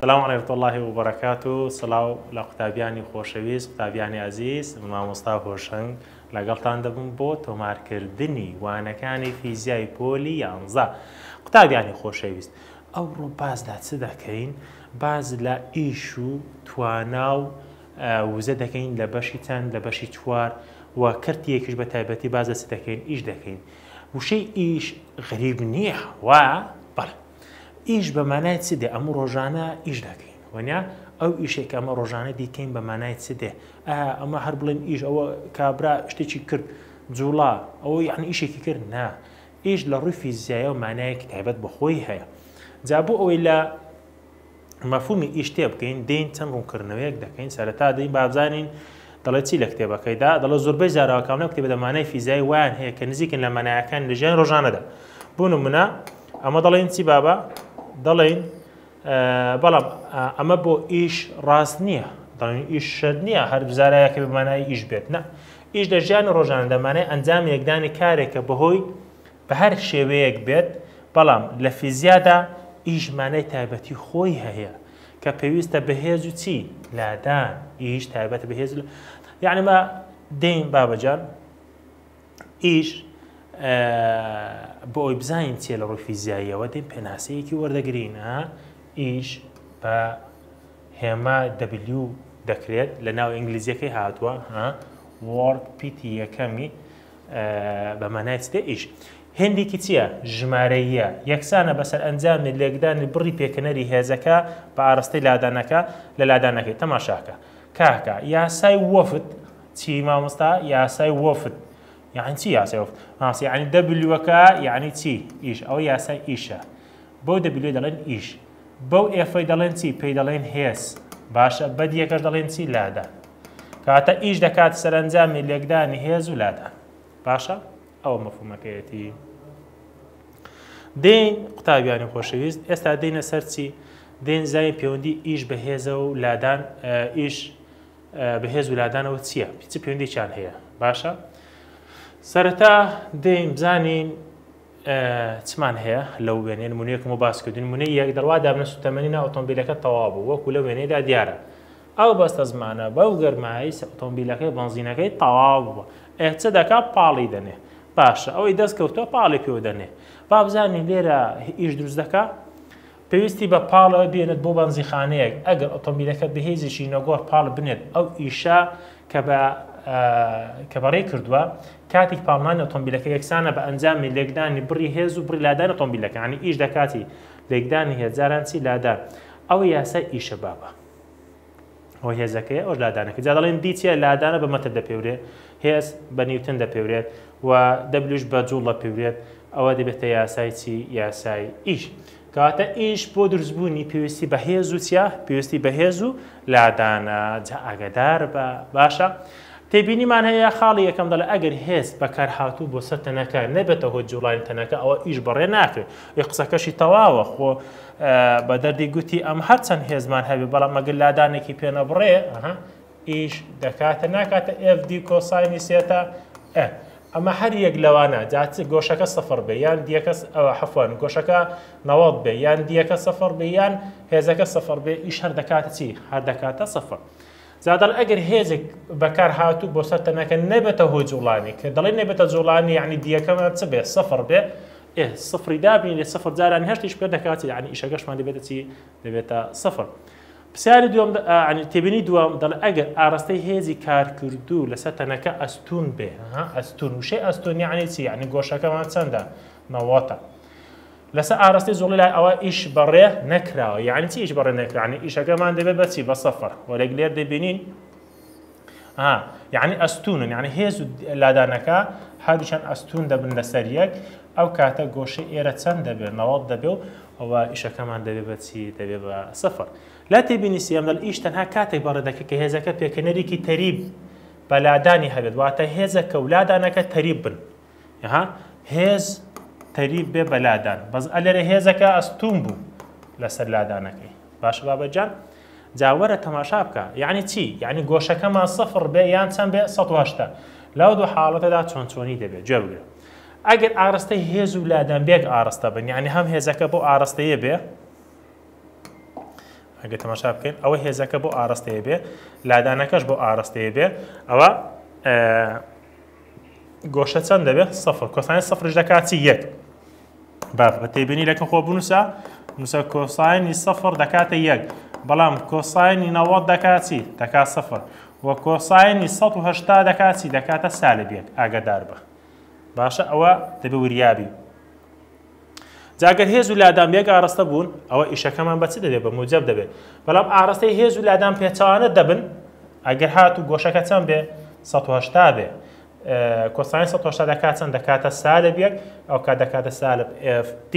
سلام وڕێفت اللهی و بەڕکات و سلااو لە قوتابیانی خۆشەویست قوتابیانی ئازیز من مامۆستا هۆشنگ لەگەڵتان دەبم بۆ تۆمارکردنی وانەکانی فیزیای پۆلی یانزە قوتابیانی خۆشەویست ئەو ڕۆ باز لە چ دەکەین باز لە ئیش و توانا و وزە دەکەین لە بەشی چەند لە بەشی چوار و کەرتی یەکیش بە تایبەتی باز لە چ دەکەین ئیش دەکەین وشەی ئیش غریب نییە وا بەڵێ ئیش بە مانای چ دێ ئەمە ڕۆژانە ئیش دەکەین وەنیا ئەو ئیشێک ئەمە ڕۆژانە دیکەین بە مانای چ دێ ئەمە هەر بڵێن ئیش ئەوە کابرا شتێکی کرد جوڵا ئەوە یعنی ئیشێکی کرد نا ئیش لە ڕووی فیزیایە و مانایەکی تایبەت بەخۆی هەیە جا بۆ ئەوەی لە مەفهومی ئیش تێ بگەین دێین چەند ڕوونکردنەوەیەک دەکەین سەرەتا دەین با بزانین دەڵێ چی لە کتێبەکەیدا دەڵێ زۆربەی زاراوە کاملە کتێبە دە مانای فیزیایی وایان هەیە کە نزیکن لە مانایەکانی لە ژیانی ڕۆژانەدا بۆ نمونە ئەمە دەڵێن چی بابا دەڵێن بەڵام ئەمە بۆ ئیش ڕاست نییە دەڵێن ئیش شەر نییە هەر زارایەکە بە مانای ئیش بێت نە ئیش لە ژیانی ڕۆژانە دەمانای ئەنجامی یەکدانی کارێکە بەهۆی بە هەر شێوەیەک بێت، بەڵام لە فیزیادا ئیش مانای تایبەتی خۆی هەیە کە پێویستە بە هێز و چی؟ لادان، ئیش تایبەتە بە هێز و لادان. یەعنی ما دێین بابەجان ئیش بۆ ئەوی بزانین چیە لە ڕووی فیزیاییەوە دێین پێناسەیەکی وەردەگرین ها ئیش بە هێما دەبلیو دەکرێت لە ناو ئینگلیزیەکەی هاتووە ها وارد پیتی یەکەمی بە مانای چ دە ئیش؟ هێندێکی چییە؟ ژمارەییە، یەکسانە بە سەرئەنجامی لێکدانی بڕی پێکەنەری هێزەکە بە ئاڕستەی لادانەکە لە لادانەکەی. تەماشاکە. کاکە یاسای وەفد چی مامۆستا؟ یاسای وەفد یانی چی یاسای وەفد؟ مامۆستا یانی دەبلیوەکە یانی چی؟ ئیش ئەوە یاسای ئیشە بەو دەبلیوە دەڵێن ئیش. بەو ئێفەی دەڵێن چی؟ پێی دەڵێن هێز. باشە بە دیەکەش دەڵێن چی؟ لادان. کاتە ئیش دەکات سەرەنجامی لێکدانی هێز و لادان. باشە؟ ئەوە مەفهومەکەیەتی. دێین قوتابیانی خۆشەویست ئێستا دێنە سەر چی؟ دێن زای پێوەندی ئیش بە هێزە و لادان ئیش بەهێز ولادانەوە چییە پیچ پێوەندێکیان هەیە باشە سەرەتا دەیم بزانین چمان هەیە لەو وێنەیە نمونەیەکم بۆ باس کردوون نمونەی یەک دەڕوا دابنە سوتەمەنی نا ئۆتۆمبیلەکە تەواو بوو وەکو لە وێنەیەدا دیارە ئەو بەستە زمانە بەو گەرمایی ئۆتۆمبیلەکەی بەنزینەکەی تەواو بووە ئێ چ دەکا پاڵی دەنێ باشە ئەوەی دەست کەوتووە پاڵی پێوە دەنێ با بزانین لێرە ئیش دروست دەکا پێویستی بە پاڵە بێنێت بۆ بەنزیخانەیەک ئەگەر ئۆتۆمبیلەکە بەهێزێکی نەگۆڕ پاڵ بنێت ئەو ئیشە کە بە کە بەڕێ کردووە کاتیک پاڵنانی ئۆتۆمبیلەکە یەکسانە بە ئەنجامی لێکدانی بڕی هێز و بڕی لادان ئۆتۆمبیلەکانی ئیش دەکاتی لێکدانی هێزاران چی لادان ئەوە یاسای ئیشە بابە ئەوە هێزەکەی ئەوش لادانەکە جا دەڵێن دی چیە لادانە بە مەتر دەپێورێ هێز بە نیوتن دەپێورێت و دەبلوش بە جوڵ دەپێورێت ئەوە دەبێتە یاسای چی یاسای ئیش کەواتە ئیش بۆ دروستبوونی پێویستی بە هێز و چیا پێویستی بە هێز و لادانە جا ئاگدار بە باشە تێبینیمان هەیە خاڵی یەکەم دەڵێ ئەگەر هێز بەکار هاتوو بۆ سەر تەنەکە نەبێتە هۆ جوڵانی تەنەکە ئەوە ئیش بەڕێ ناکرێت ئەی قسەکەشی تەواوە خۆ بە دەردی گوتی ئەم هەر چەند هێزمان هەبێ بەڵام مەگەر لادانێکی پێ نەبڕێ ئیش دەکاتە ناکاتە ئێف دی کۆساینی سێتا ئەمە هەر یەک لەوانە جات گۆشەکە سفر بێ یان دیەکە حەفوان گۆشەکە نەوەڵ بێ یان دیەکە سفر بێ یان هێزەکە سفر بێ ئیش هەر دەکاتە چی هەر دەکاتە سفر. زادڵ ئەگەر هێزێک بەکار هاتوو بۆ سەر تەنەکە نەبێتە هۆی جوڵانی کە دەڵی نەبێتە جوڵانی یعنی دیەکەمان چ بێ سفر بێ ئێ سفری دابنینێ سفر جارانی هەشتیش پێ دەکات یعنی ئیشەکەشمان دەبێتە چی دەبێتە سفر پرسیاری دوم عنی تێبینی دوم دەڵ ئەگەر ئارستەی هێزی کارکردو لەسەر تەنەکە ئەستون بێ ها ئەستون وشەی ئەستون یعنی چی یعنی گۆشەکەمان چەندە نەوەتە لەسەر ئارستەی زۆڵی لای ئەوە ئیش بەڕێ نەکراوە یعنی چی ئیش بەڕێ نەکرانی ئیشەکەمان دەبێت بەچی بە سەفر وەرەگ لێر دەبینین یعنی ئەستونن یعنی هێز و لادانەکە هەردووچەند ئەستون دەبن لەسەر یەک ئەو کاتە گۆشەی ئێرە چەند دەبێت نەوەڵ دەبێ و ئەوە ئیشەکەمان دەبێ بەچی دەبێ بە سفر لا تێبینی سێم لە ئیش تەنها کاتێک بەڕێ دەکە کە هێزەکە پێکەنەرێکی تەریب بەلادانی هەبێت واتە هێزەکە و لادانەکە تەریب بن ها هێز تەریب بێ بەلادان بەس ئەلێرە هێزەکە ئەستوم بوو لەسەر لادانەکەی باش بابەجان جاوەرە تەماشا بکە یعنی چی یعنی گۆشەکەمان سفر بێ یان چەند بێ 1970 لەو دوو حاڵەتەدا چۆن چۆنی دەبێت جوێ بگرە ئەگەر ئارستەی هێز و لادان بێک ئارستە بن یعنی هەم هێزەکە بۆ ئارستەیە بێ ئەگە تەماشا بکەین ئەوە هێزەکە بۆ ئارستەیە بێ لادانەکەش بۆ ئارستەیە بێ ئەوە گۆشە چەند دەبێت سەفر کۆسانی سەفرش دەکات چی یەک باف بە تێبینی لەکە خۆ بنووسە نووسە کۆسانی سەفر دەکاتە یەک بەڵام کۆسانی نەوەت دەکات چی دەکات سەفر و کۆسانی 1970 دەکات چی دەکاتە سالب یەک ئاگدار بە باشە ئەوە دەبێ وریابی جا گەر هێز و لادان بێک ئاڕستە بوون ئەوە ئیشەکەمان بە چ دەبێت بە موجەب دەبێت بەڵام ئاڕستەی هێز و لادان پێچەوانە دەبن ئەگەر هات و گۆشەکە چەند بێ 1970 بێ کۆسانی 1970 دەکات چەند دەکاتە سالب یەک ئەو کا دەکاتە سالب FT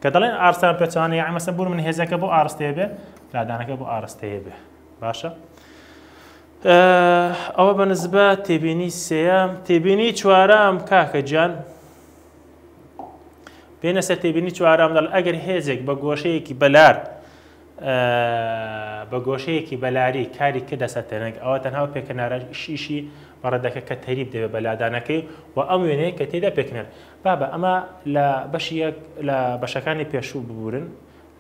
کە دەڵێن ئارستان پێچوانە یاعی مەسە بوون من هێزەکە بۆ ئارستەیە بێ لادانەکە بۆ ئارستەیە بێ باشە ئەوە بە نزبە تێبینی سێەم تێبینی چوارەم کاکە جان پێنەسە تێبینی چوارەم دەڵ ئەگەر هێزێک بە گۆشەیەکی بەلار بە گۆشەیەکی بەلاری کاری کردە سەتەنگ ئەوە تەنها و پێکەنارە شیشی بەڕێدەکە کە تەریب دەوێت بە لادانەکەی و ئەم وێنەیە کە تێدا پێکنەر بابە ئەمە لە بەشی یەک لە بەشەکانی پێشوو ببورن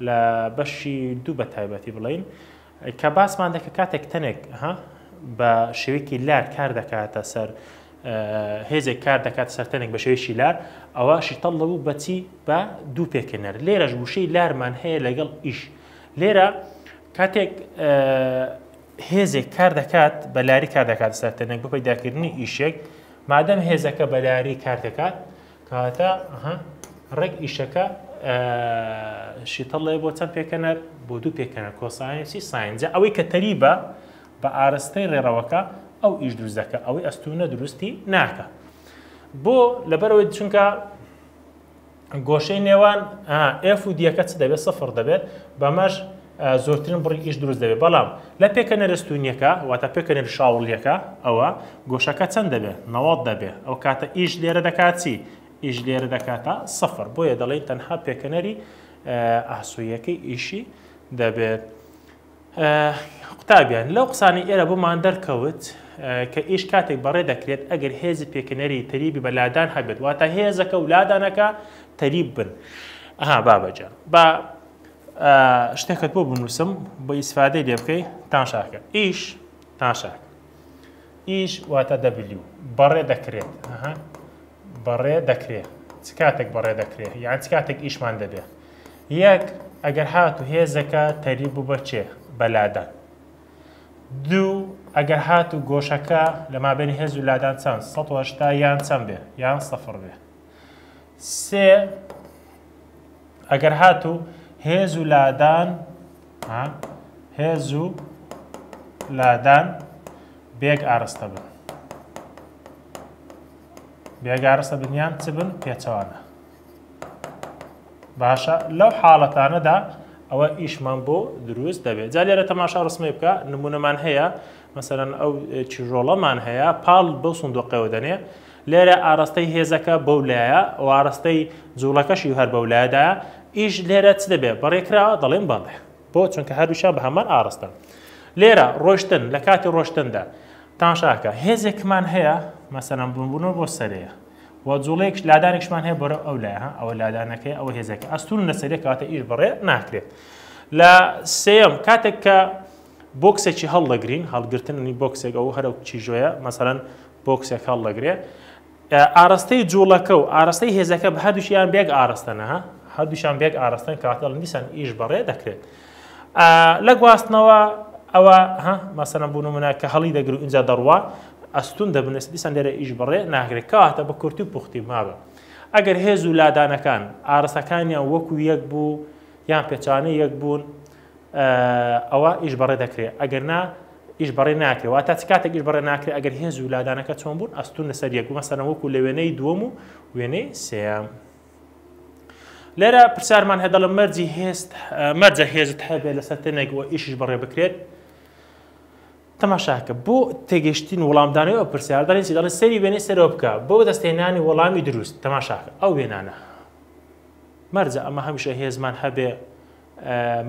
لە بەشی دوو بە تایبەتی بڵین کە باسمان دەکرد کاتێک تەنێک ها بە شێوەیەکی لار کار دەکاتە سەر هێزێک کار دەکات سەرتەنێک بە شێوەیەکی لار ئەوە شیتەڵ لەبوو بەچی بە دوو پێکەنەر لێرەش وشەی لارمان هەیە لەگەڵ ئیش لێرە کاتێک هێزێک کار دەکات بە لاری کار دەکات سەرتەنێک بە پەیداکردنی ئیشێک مادەم هێزەکە بەلاری کار دەکات کاتا ئەها ڕێک ئیشەکە شیتەڵێ بۆ چەند پێکەنەر بۆ دوو پێکەنە کۆسایەنسی ساینجا ئەوەی کە تەریبە بە ئارستەی ڕێڕەوەکە ئەو ئیش دروست دەکە ئەوەی ئەستونە دروستی ناکە بۆ لەبەرەوەی چونکە گۆشەی نێوان ئف و دیەکە چ دەبێت سفر دەبێت بەمەش زۆرترین بڕی ئیش دروست دەبێت بەڵام لە پێکەنە رستونیەکە واتە پێکەنە شاوڵیەکە ئەوە گۆشەکە چەند دەبێت نەوەڵ دەبێت ئەو کاتە ئیش لێرە دەکات چی ئیش لێرە دەکاتە سەفر بۆیە دەڵێن تەنها پێکەنەری ئاسوویەکەی ئیشی دەبێت قوتابیان لەو قسانی ئێرە بۆمان دەرکەوت کە ئیش کاتێک بەڕێ دەکرێت ئەگەر هێزی پێکەنەری تەریبی بە لادان هەبێت واتە هێزەکە و لادانەکە تەریب بن ئەها بابەجان با شتێکت بۆ بنووسم بە ئیسفادەی لێ بکەی تاشاکە ئیش تاشاک ئیش واتە دەبلیو بەڕێ دەکرێت بەڕێ دەکرێت چ کاتێک بەڕێ دەکرێت یان چ کاتێک ئیشمان دەبێت یەک ئەگەر هات و هێزەکە تەری بوو بەچێ بەلادان دوو ئەگەر هات و گۆشەکە لە مابێن هێز و لادان چەند 1970 یان چەند بێ یان سەفر بێ سێ، ئەگەر هاتوو هێز و لادان هێز و لادان بێک ئارستە بن بێک ئارستە بنیان چ بن پێچەوانە باشە لەو حاڵەتانەدا ئەوە ئیشمان بۆ دروست دەبێت جا لێرە تەماشا ڕسمی بکە نمونەمان هەیە مەسەرەن ئەو چیرۆڵەمان هەیە پاڵ بەو سندۆقەوە دەنێ لێرە ئاڕاستەی هێزەکە بەو لایە و ئاڕاستەی جوڵەکەشی هەر بەو لایەدایە، ئیش لێرە چ دەبێ؟ بەڕێ کرا؟ دەڵێم بەڵێ. بۆ؟ چونکە هەردووکیان بە هەمان ئاڕاستەن. لێرە، ڕۆشتن، لە کاتی ڕۆشتندا. تەماشاکە، هێزێکمان هەیە، مەسەلەن بڕبوونەوە بۆ سەرێ و جوڵەیەکش، لادانێکشمان هەیە بەرەو ئەو لایە، ها ئەوە لادانەکەیە، ئەوە هێزەکە، ئەستوورن لە سەرێ، کەواتە ئیش بەڕێ ناکرێت. لە سێیەم، کاتێک کە. بۆکسێکی هەڵدەگرین هەڵگرتنی بۆکسێک ئەو هەرە کیژۆیە مەسەرەن بۆکسێک هەڵدەگرێ ئارەستەی جوڵەکە و ئارەستەی هێزەکە بە هەردووشیان بێک ئارەستەنەها هەردووشان بێک ئارەستن کاتەڵ دیسان ئیش بەڕێ دەکرێت لە گواستنەوە ئەوە ها مەسەرە بوون و منە کە هەڵی دەگر و اینجا دەڕوا ئەستون دەبنێت دیسان لێرە ئیش بەڕێ ناگرێت کاتە بە کورتی و پوختی مابە ئەگەر هێز و لادانەکان ئارەسەکانیان وەکو یەک بوو یان پێچانە یەک بوون ئەوا ئیش بەڕێ دەکرێ ئەگەر نا ئیش بەڕێ ناکرێ واتا چ کاتێک ئیش بەڕێ ناکرێ ئەگەر هێز و لادانەکە چۆن بوون ئەستون لەسەر یەک مەسەرە وەکو لە وێنەی دووەم و وێنەی سێم لێرە پرسیارمان هەیە دەڵم مەرجی هێست مەرجە هێزت هەبێت لەسەر تەنێک و ئیشش بەڕێ بکرێت تەماشاکە بۆ تێگەشتین وڵامدانەوە پرسیار دەڵێنی دەڵێ سەری وێنەی سەرۆ بکە بۆ دەستێنانی وەڵامی دروست تەماشاکە ئەو وێنانە مەرجە ئەمە هەمیشە هێزمان هەبێ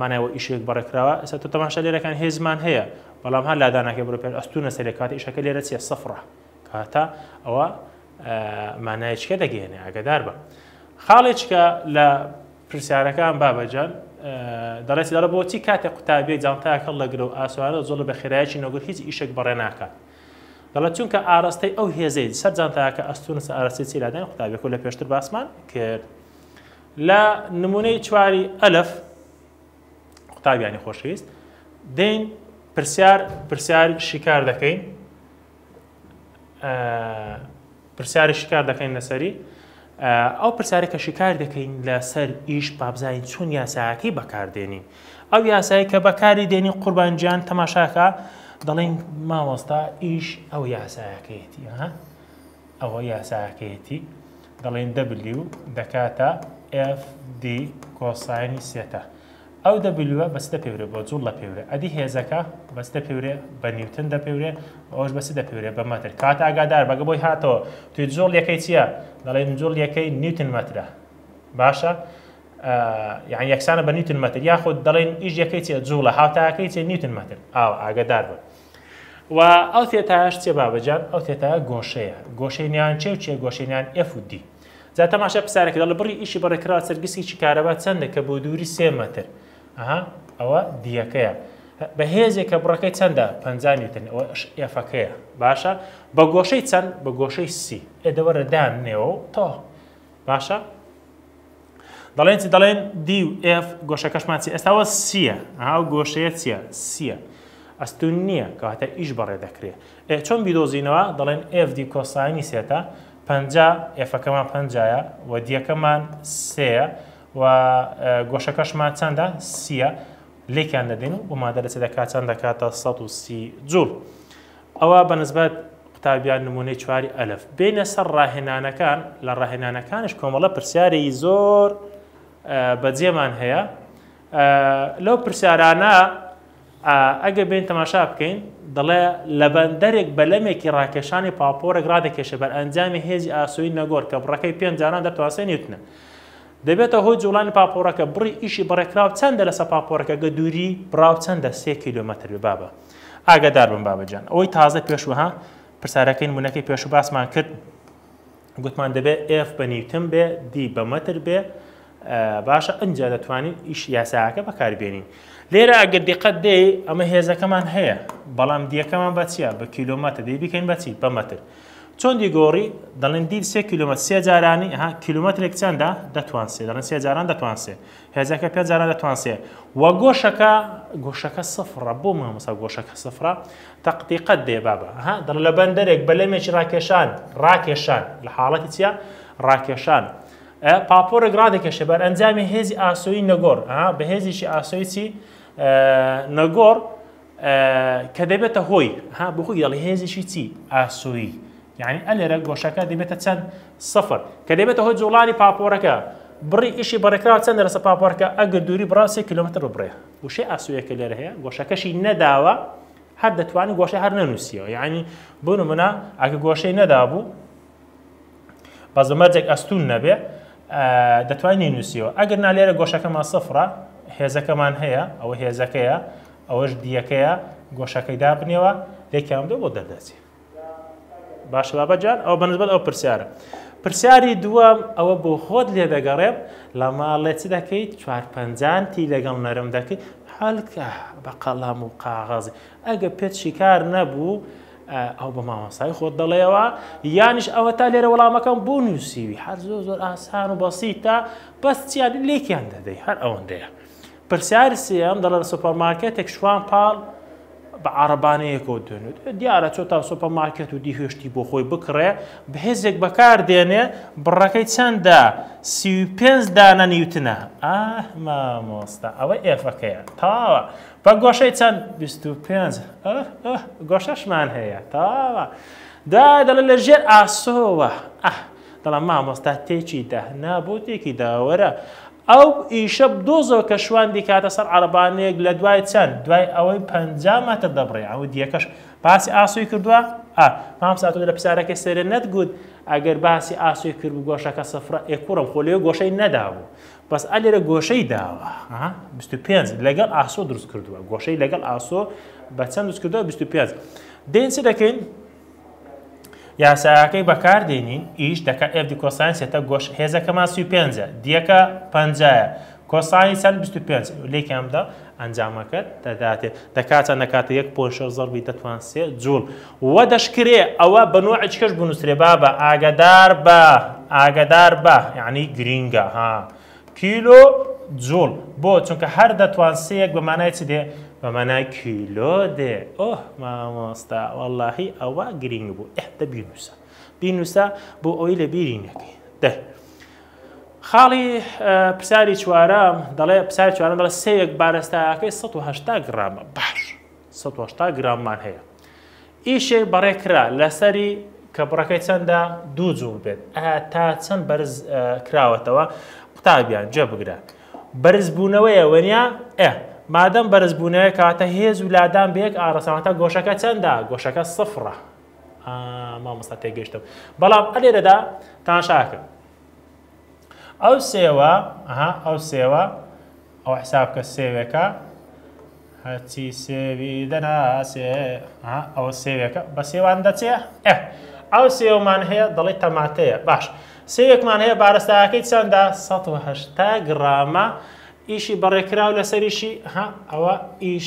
مانای وە ئیشێک بە ڕێکخراوە ئێستا تۆ تەماشا لێرە کەن هێزمان هەیە بەڵام هەر لادا ناکەی بڕۆ پێش ئەستونە سەرێ کاتە ئیشەکە لێرە چیە سەفڕە کاتە ئەوە مانایچکە دەگەێنێ ئەگەدار بە خاڵێکە لە پرسیارەکان بابەجان دەڕێت لەڕە بۆچی کاتێک قوتابێ جانتایە کەڵ لەگرە و ئاسوارە زۆڵ بە خێرایکی نەگوت هیچ ئیشێک بەڕێ ناکات دەڵێت چونکە ئاراستەی ئەو هێزەی سەر جانتاکە ئەستونە ئاراستی چیلادان قوتابێک و لە پێشتر باسمان کرد. لە نمونەی چواری ئەلف قوتابیانی خۆشەویست دەین پرسیار پرسیار شیکار دەکەین پرسیاری شیکار دەکەین لەسەری ئەو پرسیارە کە شیکار دەکەین لەسەر ئیش بابزانین چۆن یاساکەی بەکاردێنین ئەو یاسایی کە بەکاری دێنی قوربانجیان تەماشاکە دەڵێن مامۆستا ئیش ئەو یاسایەکەیەتی ها ئەوە یاساکەیەتی دەڵێن دەبلیو دەکاتە ئێف دی کۆساینی سێتا ئەو دەبلیوە بەس دەپێورێ بۆ جوڵ لە پێورێ ئەدی هێزەکە بەس دەپێورێ بە نیوتن دەپێورێ ئەوش بەسی دەپێورێ بە مەتر کات ئاگادار بەگە بۆی هاتەوە توی جوڵ یەکەی چییە دەڵێن جوڵ یەکەی نیوتن مەترە باشە یان یەکسانە بە نیوتن مەتر یاخود دەڵێن ئیش یەکەی چیە جوڵە هاوتاکەی چیە نیوتن مەتر ئاو ئاگادار بە و ئەو تێتایەش چێ بابەجان ئەو تێتایە گۆشەیە گۆشەی نیان چێ و چێ گۆشەی نیان ئێف و دی جا تەماشای پرسیارەکە دەڵێ بڕی ئیشی بەڕێکراوە سەر گسکێکی کارەبا چەندە کە بۆ دووری سێ مەتر ئەها ئەوە دیەکەیە بە هێزێک کە بڕەکەی چەندە پ نیوتن ئەوە ئێفەکەیە باشە بە گۆشەی چەند بە گۆشەی سی ئێدەوەرە دانێەوە تۆ باشە دەڵێن چی دەڵێن دی و ئێف گۆشەکەشمان چی ئێستا وە سیە ئەو گۆشەیە چیە سیە ئەستون نییە کەواتە ئیش بەڕێ دەکرێ ئێ چۆن بیدۆزینەوە دەڵێن ئێف دی کۆسانی سێتە پەنجا ئێفەکەمان پەنجایە و دیەکەمان سێە و گۆشەکەشمان چەندە سیە لێکیان دەدەین و بۆ مادە لەچ دەکات چەند دەکاتە 130 جوڵ. ئەوا بەنسبەت قوتابیان نموونەی چواری ئەلف بێینە سەر ڕاهێنانەکان، لە ڕاهێنانەکانیش کۆمەڵە پرسیارێکی زۆر بەجێمان هەیە لەو پرسیارانە ئەگە بێن تەماشا بکەین دەڵێ لە بەندەرێک بەلەمێکی ڕاکێشانی پاپۆرێک ڕادەکێشە بەر ئەنجامی هێزی ئاسوی نەگۆر کە بڕەکەی پێنجانان دەتوانسێ نیوتنە دەبێتە هۆی جوڵانی پاپۆرەکە بڕی ئیشی بڕێکراو چەندە لەسە پاپۆرەکەگە دووری بڕاو چەندە سێ کیلومتر بێ بابە ئاگادار بن بابە جان ئەوەی تازە پێش وەها پرسارەکەی نمونەکەی پێشو باسمان کرد گوتمان دەبێت ئف بە نیوتن بێ دی بە مەتر بێ باشە ئەجا دەتوانین ئیش یاساکە بەکاربێنین لێرە ئەگەر دیقەت دێ ئەمە هێزەکەمان هەیە بەڵام دیەکەمان بە چیە بە کیلومەتر دی بکەین بەچی بە مەتر چۆن دی گۆڕی دەڵێن دی سێ کیلومەتر سێ جارانی ها کیلومەترێک چەندە دەتوان سێ دەڵێن سێ جاران دەتوان سێ هێزەکە پێ جاران دەتوان سێ. وە گۆشەکە گۆشەکە سفڕە بۆ مامۆسا گۆشەکە سفڕە تەقدیقەت دێ بابە ها دڵ لە بەندەرێک بەلەمێکی ڕاکێشان ڕاکێشان لە حاڵەتی چیە ڕاکێشان پاپۆرێک ڕادەکێشێ بەر ئەنجامی هێزی ئاسۆی نەگۆڕ بە هێزیی ئاسۆی چی نەگۆڕ کە دەبێتە هۆی، ها بۆ خۆی دەڵێ هێزیشی چی؟ ئاسۆیی. یانی ئە لێرە گۆشەکە دەبێتە چەند؟ سفر. کە دەبێتە هۆی جووڵانی پاپۆڕەکە، بڕی ئیشی بە ڕێکخراوە چەندە لەسەر پاپۆڕەکە؟ ئەگەر دووری بڕە سێ کیلۆمەتر ببڕێ. وشەی ئاسۆیە کە لێرە هەیە گۆشەکەشی نەداوە، هەر دەتوانین گۆشەی هەر نەنووسیەوە. یانی بۆ نموونە ئەگەر گۆشەی نەدابوو، بەس بە مەرجێک ئەستوون نەبێ دەتوای نینوسیەوە ئەگەر نالێرە گۆشەکەمان سفرە هێزەکەمان هەیە ئەوە هێزەکەیە ئەوەش دیەکەیە گۆشەکەی دابنێەوە لێکیان دە بۆ دەردەچێت باش بابە جان ئەو بەنسبەت ئەو پرسیارە پرسیاری دووەم ئەوە بۆ خۆت لێ دەگەڕێم لە ماڵێ چ دەکەیت چوار پەنجانتی لەگەڵ نەرم دەکەیت حالکە بە قەڵام و قاغەزی ئەگە پێت شیکار نەبوو ئایا ئەو بە مامۆستای خۆت دەڵێیەوە یانیش ئەوەتا لێرە وەڵامەکەم بۆ نووسیوی هەر زۆر زۆر ئاسان و بەسیتە بەس چیان لێکیان دەدەی هەر ئەوەندەیە پرسیاری سێم دەڵێ لە سۆپەرمارکێتێک شوان پاڵ بە عربانەیەکەوە دێنێت دیارە چۆ تا سۆپە ماکێت و دیهێشتی بۆ خۆی بکڕێ بەهێزێک بەکار دێنێ بڕەکەی چەندە سی پێنج دانە نیوتنە ئاه مامۆستا ئەوە ئێفەکەیە تاوە بە گۆشەی چەند بیست و پێنج گۆشەشمان هەیە تەواوە دا دەڵێ لە ژێر ئاسۆوە ئەه دەڵام مامۆستا تێکی دە نا بۆ تێکی داوەرە ئەو ئیشە دۆزۆ کە شوان دیکاتە سەر عربانەیەک لە دوای چەند دوای ئەوەی پ مەتر دەبڕێ ئەو دیەکەش باسی ئاسوی کردووە ئا مامساتۆ لە پسارەکەی سەرێ نەتگوت ئەگەر باسی ئاسوی کرد و گۆشەکە سفرە ئێکوڕم خۆ لێ گۆشەی نەدابوو بەس ئا لێرە گۆشەی داوە ها بیست و پێنج لەگەڵ ئاسۆ دروست کردووە گۆشەی لەگەڵ ئاسۆ بە چەند دروست کردووە بیست و پێنج دێین چ دەکەین یاساکەی بەکار دێنین ئیش دەکە ئێف دی کۆساین سێتە گۆش هێزەکەمان سی و پێنجە دیەکە پەنجایە کۆسانی چەند بیست و پێنج لێکیان بدە ئەنجامەکەت دەداتێ دەکاتە نەکاتە یەک پۆشە زەڕبی دەتوان سێ جوڵ وە دەشکرێ ئەوە بە نۆعێچکەش بنووسرێ بابە ئاگەدار بە ئاگەدار بە یەعنی گرینگە ها کیلۆ جوڵ بۆ چونکە هەر دەتوان سێیەک بە مانای چ دێ بە مانای کیلۆ دێ ئۆه مامۆستا وەڵاهی ئەوە گرینگ بوو ئه دە بینوسە بینوسە بۆ ئەوەی لە بیری نەکەی دە خاڵی پرسیاری چوارە دەڵێ پرسیاری چوارە دەڵێ سێیەک بارستایەکەی 180 گرامە باش سەد و هەشتا گراممان هەیە ئیشێک بەڕێ کرا لەسەری کە بڕەکەی چەندە دوو جوو بێت تا چەند بەرز کراوەتەوە قوتابیان جێ بگرە بەرزبوونەوەیە وەنیا ئە مادەم بەرزبوونەوە کاتە هێز و لادان بەیەک ئارەسەوەتە گۆشەکە چەندە گۆشەکە سفڕە مامۆستا تێگەشتم بەڵام ئەلێرەدا تاشاکە ئەو سێوە ئەها ئەو سێوە ئەو حسابکە سێوێکە هەرچی سێوی دەناسێ ئەوە سێوێکە بە سێوان دەچێ ئەو سێومان هەیە دەڵی تەماتەیە باش سێوێکمان هەیە بارستاکەی چەندە 1970 گرامە ئیشی بەڕێکراو لەسەریشی ها ئەوە ئیش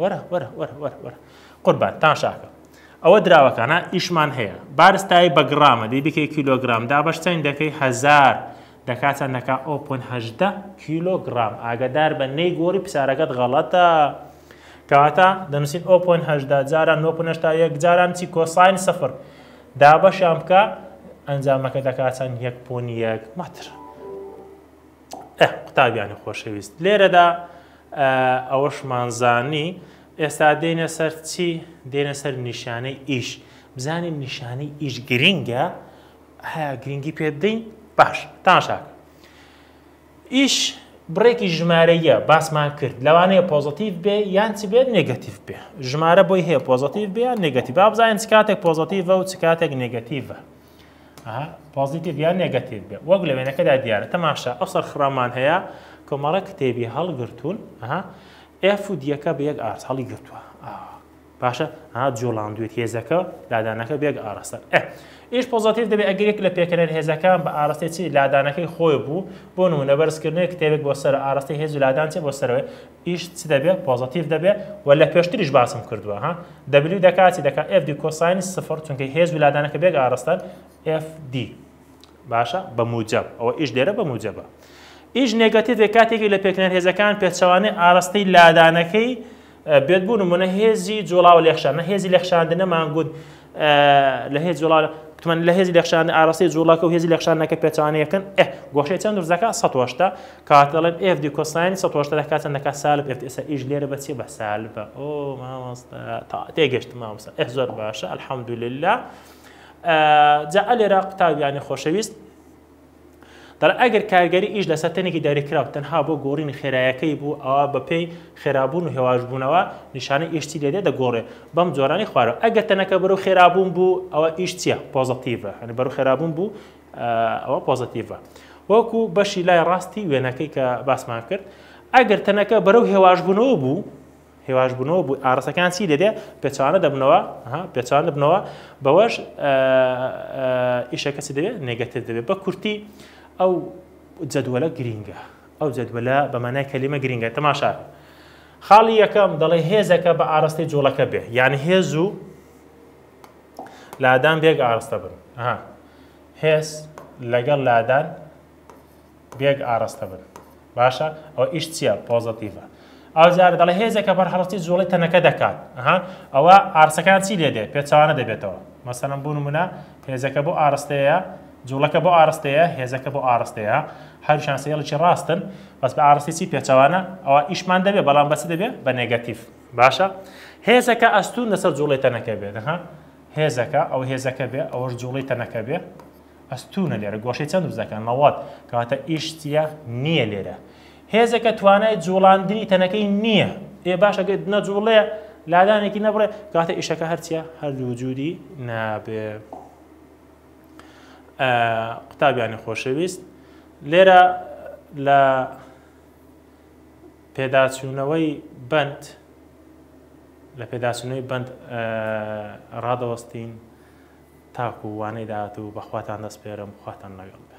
وەرە وەرە وەرە وەرە وەرە قوربان تاشاکە ئەوە دراوەکانە ئیشمان هەیە بارستایی بە گڕامە دەی بکەی کیلۆگرام دابەش چەند دەکەی هەزار دەکا چەند دەکا ئەو پۆن هەژدە کیلۆگرام ئاگدار بە نەی گۆری پسارەکەت غەڵەتە کەواتە دەنووسین ئەو پۆن هەژدا جاران نۆ پۆن هەشتا یەک جاران چی کۆساین سفر دابەشیان بکە ئەنجامەکە دەکا چەند یەک پۆن یەک مەتر ئەه قوتابیانی خۆشەویست لێرەدا ئەوەشمان زانی ئێستا دێنە سەر چی دێنە سەر نیشانەی ئیش بزانین نیشانەی ئیش گرینگە هەیە گرنگی پێ بدەین باش تاشاک ئیش بڕێکی ژمارەیە باسمان کرد لەوانەیە پۆزتیف بێ یان چ بێت نگەتیف بێ ژمارە بۆی هەیە پۆزتیف بێ یان نگەتی بابزانین چ کاتێک پۆزتیڤە و چ کاتێک نگەتیڤە پۆزیتیڤ یان نێگەتیڤ بێ وەک لە وێنەکەدا دیارە تەماشا ئەو سەرخڕامان هەیە کۆمەڵە کتێبی هەڵگرتوون ئێف و دیەکە بە یەک ئارس هەڵی گرتووە باشە ها جۆڵاندوێت هێزەکە لادانەکە بێک ئاراستە ئیش پۆزیتیف دەبێت ئەگەرێک لە پێکەرەر هێزەکان بە ئاراستی چی لادانەکەی خۆی بوو بۆ نمونە بەرزکردنەوەی کتێبێک بۆ سەر ئاراستی هێز و لادان چێ بۆ سەرەوەی ئیش چ دەبێ پۆزەتیڤ دەبێ وە لە پێشتریش باسم کردوە ها دەبلیو دەکا چی دەکا ئێف دی کۆساینی سفر چونکە هێز و لادانەکە بێک ئارەستەن ئێف دی باشە بە موجەب ئەوە ئیش لێرە بە موجەبە ئیش نێگەتیڤێک کاتێکی لە پێکنەر هێزەکان پێچەوانەی ئارەستەی لادانەکەی بێت بوون منە هێزی جوڵاو لێخشان نە هێزی لێخشاندنە مانگوت لە هێز جوڵا تمەن لە هێزی لەخشان ئاراسی جوڵاکە و هێزی لەخشانەکە پێچوانەکەن ئە گۆشەی چەند درزەکە 1970 کاتەڵێن ئف دی کۆساین 1970 دەکات چەند دەکات سالب ئف ئێستا ئیش لێرە بە چێ بە سالبە ئۆ مامۆستا تا تێگەشت مامۆستا ئه زۆر باشە الحمدلله جا لێرە قوتابیانی خۆشەویست دەڵێت ئەگەر کارگەری ئیش لەسەر تەنێکی داگیرکراو تەنها بۆ گۆڕینی خێرایەکەی بوو ئەوا بەپێی خێرابوون و هێواشبوونەوە نیشانەی ئیش چی لێدێت دەگۆڕێت بەم جۆرانەی خوارەوە ئەگەر تەنەکە بەرەو خێرابوون بوو ئەوا ئیش چییە پۆزەتیڤە یانی بەرەو خێرابوون بوو ئەوە پۆزەتیڤە وەکو بەشی لای ڕاستی وێنەکەی کە باسمان کرد ئەگەر تەنەکە بەرەو هێواشبوونەوە بوو هێواش بوونەوە بوو ئارەسەکان چی دەبێ پێچوانە دەبنەوە پێچوان دەبنەوە بەوەش ئیشەکە چ دەبێت نێگەتر دەبێت بە کورتی ئەو جەدوەلە گرینگە ئەو جەدوەلە بەمانای کەلیمە گرینگە تەماشا خاڵی یەکەم دەڵێ هێزەکە بە ئاراستەی جوڵەکە بێ یعنی هێز و لادان بێک ئاراستە بن هێز لەگەڵ لادان بێگ ئاڕەستە بن باشە ئەو ئیش چییە پۆزەتیڤە ئەوجار دەڵێ هێزێک کە بەرهەڵستی جوڵی تەنەکە دەکات ها ئەوە ئارسەکان چی لێ دێ پێچوانە دەبێتەوە مەسەرم بوون منە هێزەکە بۆ ئارستەیە جوڵەکە بۆ ئارستەیە هێزەکە بۆ ئارستەیە هەروشان سێڵکی ڕاستن بەس بە ئارستی چی پێچوانە ئەوە ئیشمان دەبێ بەڵام بەچ دەبێ بە نێگەتیف باشە هێزەکە ئەستون لەسەر جوڵی تەنەکە بێت ها هێزەکە ئەو هێزەکە بێ ئەوەش جوڵی تەنەکە بێ ئەستوونە لێرە گۆشەی چەند دروست دەکەن نەوەد کەواتە ئیش چیە نیە لێرە هێزەکە توانای جوڵاندنی تەنەکەی نییە ئێ باشە گەت نەجوڵێ لادانێکی نەبڕێ کاتە ئیشەکە هەرچیە هەردوو وجودی نابێ قوتابیانی خۆشەویست لێرە لە پێداچوونەوەی بند لە پێداچوونەوەی بند ڕادەوەستین تاکو وانەی داهاتوو بەخواتان دەسپێرم خواتان لەگەڵ بێ.